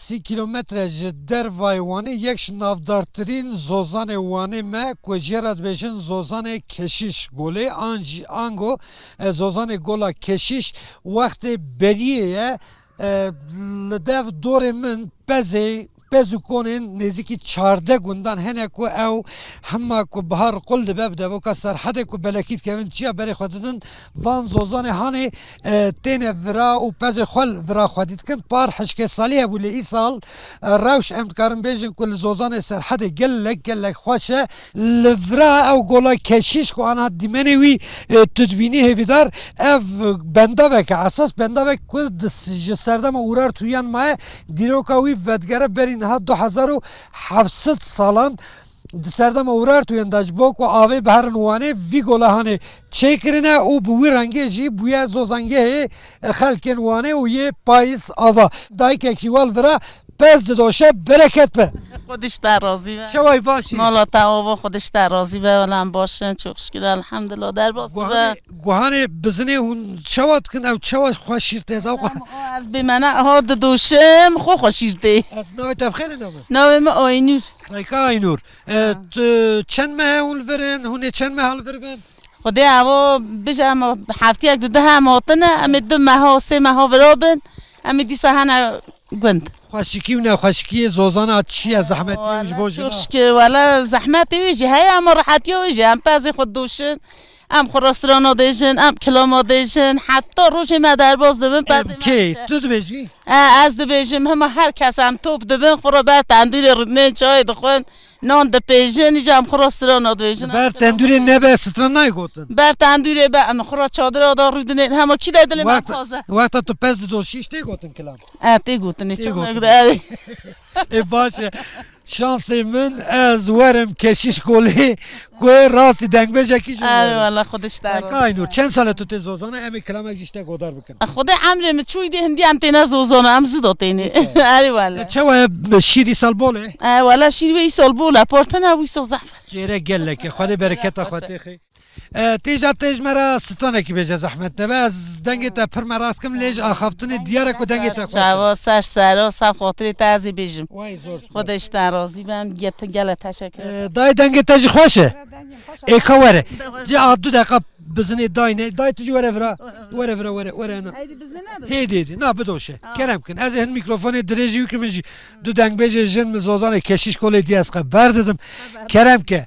Sî kîlometre ji dervayê Wanê yek ji navdartirîn zozanê Wanê me ku jê re dibêjin Zozanê Keşiş Golê an jî ango Zozanê Gola Keşiş wextê beriyê ye. Li dev dorê min pezê pez û konên nêzîkî çardeh gundan hene ku ew hema ku bihar qul dibe bi devoka Serhedê ku belekî dikevin çiya berê xwe didin. Van Zozanê Hanê Têne vira û pezê xwe li vira xwedî dikin. Par hişkê salî hebû lê îsal rewş em dikarin bêjin ku li Zozanê Serhedê gelek gelek xweş e. Li vira ew gola keşîş ku aniha dîmenê wî tu dibînî hêvîdar ev bendavek e esas bendavek ku ji serdema Urartu yan maye dîroka wî vedigere berî niha du hezar û heft sed salan. Di serdema Urartuyên de ji bo ku avê biherin Wanê vî golehanê çêkirine û bi wî rengê jî bûye zozangehê xelkên Wanê û yê Payîz Ava. Dayikek jî wal vira pez didoşe bereket be. Xwedî ji te razî be. Çawa yî baş î? Mala te ava xwedî ji te razî be wele em baş in çok şikir elhamdullah derbas tu be. Guhanê bizinê hûn çawa dikin ew çawa xwe şîr tê zam. Ez bêmena eha didoşim xwe xwe şîr tê. Ez navê te bi xêr e navê? Navê min Aynur. Dayika Aynûr, tu çend mehe hûn li vir in, hûn ê çend meha li vir bin? Xwedê avo bije em heftiyek di duhe em hotine em ê du meho sê meho viro bin em ê dîsa hene gund. Xweşikî û nexweşikiyê zozana çi ye zehmetî wî ji bo jinan? Şikê wele zehmetê wî jî heye hema rehetiya wî jî em pezê xwe dûşin. Em xwe restorana dêjin, em kilama dêjin, heta rojê me derbas dibin pezê me diçe. Kê? Tu dibêjî? Ez dibêjim, hima her kes em top dibin, xwe re ber tendûrê rûdinên çayê dixwin, nan dipêjin, îcar em xwe restorana dibêjin. Ber tendûrê nebe stran nayê gotin? Ber tendûrê be, em xwe re çadira da rûdinên, hema kî de dilê me taze. Wexta tu pez didoşî ji tê gotin kilam? E, tê gotin, nê çamek de. Ê baş e. Şansê min ez werim keşiş golê ku ê rastî dengbêjekî jî werim. Eyvallah xwe diş der. Berka Aynur çend sale tu tê zozana em ê kilamek jî ji te godar bikin. Xwedê emrê min çûyî dê hindî em têne zozana em zû dotênê. Eyvallah. Çawa ye şîr îsal bol e? Eyvallah şîr wê îsal bol e. Partina bû îsal zehf e. Çêrek gelek e. Xwedê bereketa xwe tê xê. Têja te ji me re stranekî be ji zehmet nebe ez dengê te pir meras kim lê ji axaftinê diyar e ku dengê te xweş e. Çawa ser ser o saf xatirê te ez ê bêjim. Xweda ji te razî be em gelek teşekkür dikim. Dayê dengê te jî xweş e. Ê ka were cih a du deqa bizinê dayne. Dayê tu jî were vira were vira were were hina. Hêdî hêdî na bidoşe kerem bikin ez ê hin mîkrofonê dirêjî bikim min jî du dengbêjê jin min zozanê keşîş kolê dîya ez qe berdidim kerem bike.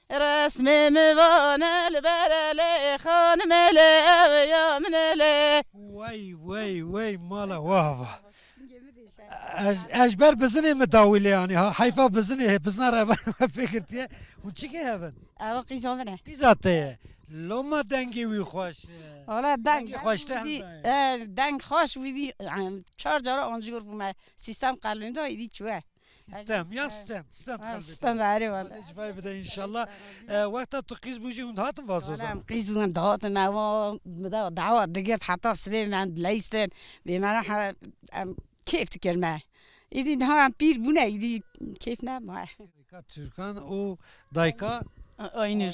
Resmê min vane li ber e lê, xanimê lê ev ê ya min e lê. Wey wey wey mala waha va. Ez ez ji ber bizinê min dawî lê anî ha heyfa bizinê hê bizina revan we pê girtiye. Hûn çi kê hev in? Ew qîza min e. Qîza te ye. Loma dengê wî xweş e. Wala deng Dengê xweş te hem dayê. deng xweş wî zî çar cara ancor bûme. Sîstem qelûn da îdî çûye. Stem ya stem stem kalbê. Stem erê wala. Hadi civayê bide inşallah. Wexta tu qîz bû jî hûn hatin vazoza. Em qîz bû em dihatin eva bide dawa digirt heta sibê me em dileyistin bêmene he em kêf dikir me. Îdî niha em pîr bûne îdî kêf nemaye. Dayika Tirkan û dayika Aynur.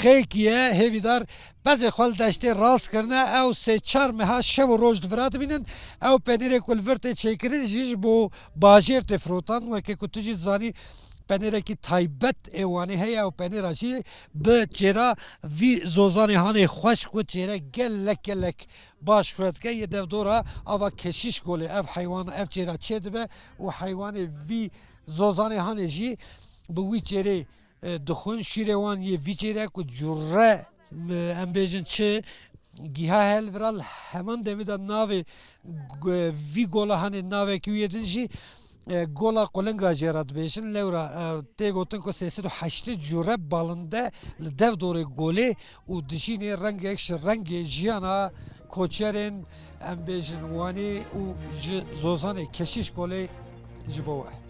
Xêkiye, hêvîdar, pezê xwe li deştê rast kirine, ew sê çar meha şev û roj divira dibînin. Ew penêrê ku li vir tê çêkirin jî ji bo bajêr tê firotan. Weke ku tu jî dizanî penêrekî taybet ê Wanê heye, ew penêra jî bi çêra vî zozanê hanê xweşk û çêre gelek gelek baş xuya dike. Yê dev dora ava Keşiş Golê ev heywan ev çêra çêdibe û heywanê vî zozanê hanê jî bi wî çêrê Dixwin şîrê wan yê vî çêr e ku cure em bêjin çi giha hel vira li heman demê de navê vî gola hanê navekî wê din jî gola qulinga jê re dibêjin. Lewra tê gotin ku sê sed û heştê cure balinde li dev dorê golê û dijînê rengek ji rengê jiyana koçerên em bêjin wanê û ji zozanê keşîş kolê ji bo we.